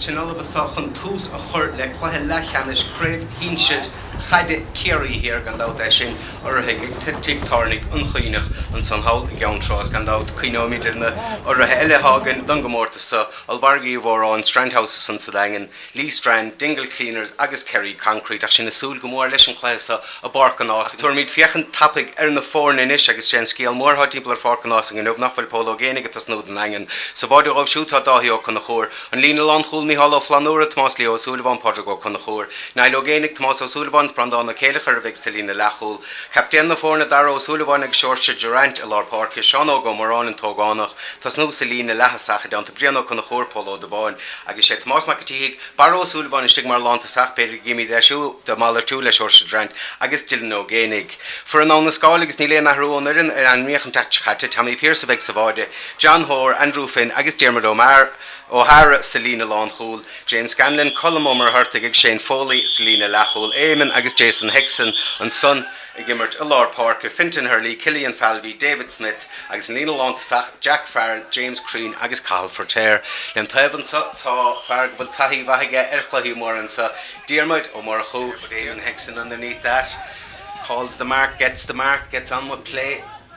Sinn ullamh anso chun tús a chur le cluiche leathcheannais chraobh shinsir chaide Chiarraí Thiar, gan dabht, é sin urraithe ag Tigh Tábhairne an Chuinneach, ansan thall i gCeann Trá is gan dabht cuimhneoimid ar na hurraithe eile atá againn don gcomórtas so, Ollmhargadh Uí Mhóráin, Strand House ansan sa Daingean, Lee Strand, Dingle Cleaners agus Kerry Concrete ach sinn ag súil go mór leis an chluiche so i bPáirc an Ásaigh. Tabharfaimid féachaint tapaidh ar na foirne anois agus sé an scéal mór atá timpeall ar Pháirc an Ásaigh inniu nach bhfuil Pól Ó Géinigh ag tosnú don Daingean. Sa bháide dhóibh siúd tá Dáithí Ó Conchúir, An Líne Lánchúil, Mícheál Ó Flannúra, Tomás Leo Ó Súilleabháin, Pádraig Ó Conchúir, Niall Ó Géinigh, Tomás Ó Súilleabháin is Breandán Ó Céileachair a bheidh sa líne leathchúil. Captaen na foirne, Darragh Ó Súilleabháin agus Seoirse Durant i lár páirce, Seán Óg Ó Moráin, an t-ógánach, tosnú sa líne leath-thosach i dteannta Brian Ó Conchúir, Pól Ó Dubháin agus sé Tomás Mac an tSíthigh, Barra Ó Súilleabháin istigh mar lántosach, b'fhéidir go gcífimid é siúd ag malartú le Seoirse Durant agus Dylan Ó Géinigh. Foireann Abha na Scáil agus níl aon athrú ón fhoireann a ainmníodh an tseachtain seo chaite. Tommy Pierce a bheidh sa bháide. John Hoare, Andrew Finn agus Diarmuid Ó hEára sa líne lánchúil, James Scanlon, Colm Ó Muircheartaigh agus Shane Foley sa líne leathchúil, Éamonn agus Jason Hickson ansan ag imirt i lár páirce, Fintan Herlihy, Killian Falvey, David Smith agus an líne lántosach, Jack Farrell, James Crean agus Cathal Feirtéar. Lem thaobh anso tá fear go bhfuil taithí mhaith aige ar chluichí móra anso, Diarmuid Ó Murchú, but Éamonn Hickson underneath that, calls the mark, gets the mark, gets on with play.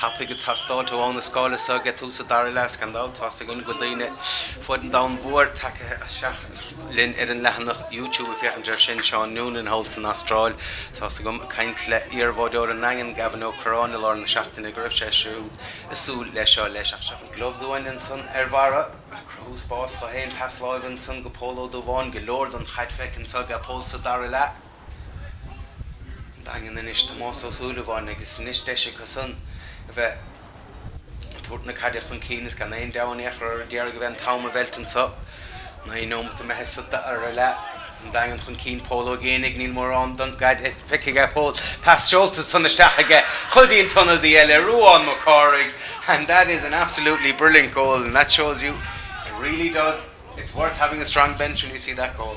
tapaidh ag teastáil ó Abha na Scáil anso ag tús an dara leath, is gan dabht tá's againn go bhfuil daoine fud an domhain mhóir tagtha isteach linn ar an leathanach YouTube ag féachaint air sin, Seán Noonan thall san Astráil. Tá's agam ag caint le iar-bháideoir an Daingin, Gavin Ó Curráin i lár na seachtaine go raibh sé siúd ag súil leis seo leis ach seo Gloves uainn ansan ar Bharra, ag cruthú spás dho fhéin, pas láimhe ansan go Pól Ó Dubháin, go leor don chaid feicthe anso ag Pól sa dara leath. Daingean anois Tomás Ó Súilleabháin agus anois deis acu san a bheith ag tabhairt na caide chun cinn is gan aon dabht iad ag iarraidh a bheith an t-am a mheilt anso. Naoi nóimeat imithe sa dara leath. An Daingean chun cinn Pól Ó Géinigh Níl mórán don gcaide feicthe aige Pól. Pas seolta ansan isteach aige go dtí an t-ionadaí eile Ruán Mac Cárthaigh and that is an absolutely brilliant goal and that shows you it really does It's worth having a strong bench when you see that goal.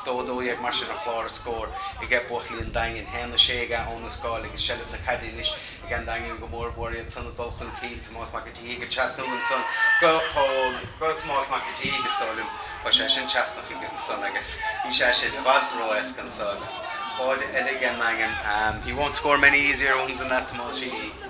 A dó 12 mar sin ar chlár na scór age buachaillí an Daingin. Haon a sé age Abha na Scáil. Is seilbh na caide anois age an Daingean go mór mhór iad san ag dul chun cinn. Tomás Mac an tSíthigh ag trasnú ansan go Pól. Go Tomás Mac an tSíthigh is dóigh liom, tá sé sin trasna aige ansan agus bhí sé sin i bhfad ró-éasca anso agus báide eile age an Daingean. He won't score many easier ones than that Tomás Sheehy.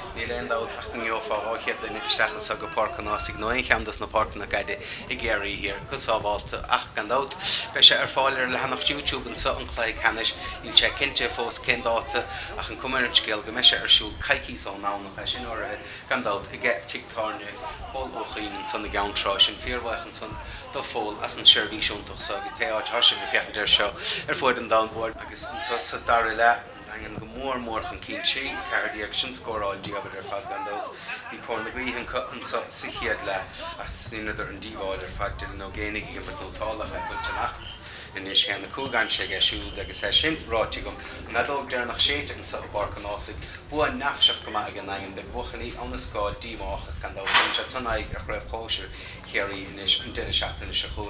Níl aon dabht ach go ngeobhfá 200 duine isteach anseo go Páirc an Ághasaigh nó aon cheann dos na páirceanna caide i gCiarraí Thiar go sábhálta ach gan dabht beidh sé ar fáil ar leathanach YouTube anseo an Cluiche Ceannais. Níl sé cinnte fós cén dáta ach an cuma ar an scéal go mbeidh sé ar siúl coicíos ón nDomhnach é sin urraithe gan dabht aige Tigh Tábhairne Phóil Uí Chuinn ansan i gCeann Trá. Sinn fíorbhaoch ansan do Phól as an seirbhís iontach so agus pé áit atá sibh ag féachaint air seo ar fuaid an domhain mhóir agus anseo sa dara leath, Daingean go mór mór chun cinn trí, 14, sin scóráil diamhair ar fad gan dabht. Bhí cóir na gaoithe acu anseo sa chéad leath is dheineadar an díobháil ar fad Dylan Ó Géibheannaigh ag imirt nótálach a thuilte amach. Anois a haon a cúig aimsithe aige siúd agus é sin ráite agam. An fheadóg deireanach séidte anseo i bPáirc an Ághasaigh. Bua neafaiseach go maith ag an nDaingean. Beidh buachaillí Abhainn an Scáil díomách ach gan dabht tugann siad san aghaidh ar Chraobh Shóisir Chiarraí anois an deireadh seachtaine seo chugainn.